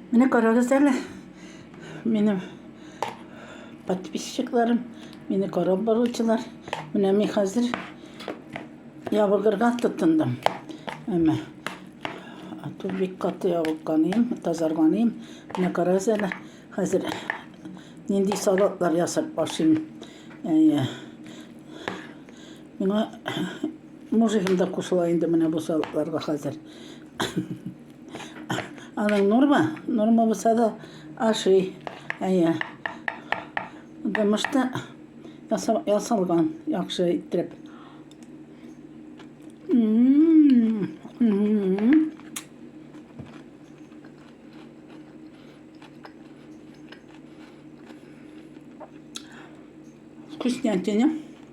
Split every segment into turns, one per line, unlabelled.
Менә карагыз әле. Минем подписчикларым, мине карап баручылар. Менә мин хәзер ябыгырга тотындым. Әмма ату бик каты ябыкканым, тазарганым. Менә карагыз әле, хәзер нинди салатлар ясап ашыйм. Әйе. Миңа мужигым да кушыла инде менә бу салатларга хәзер. Аның норма, норма булса да ашый. Әйе. Дымышта ясалган яхшы иттереп. Вкуснятина.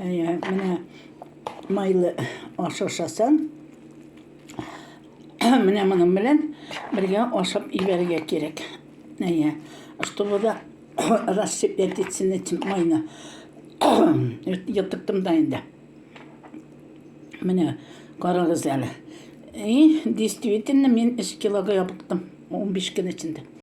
Әйе, менә майлы аш ашасаң, менә моның белән бергә ашап ибәрергә кирәк. Әйе, чтобы да рассыпать этим этим майны. Йотыктым да инде. Менә карагыз әле. И, действительно, мин 3 килога ябыктым. 15 көн эчендә.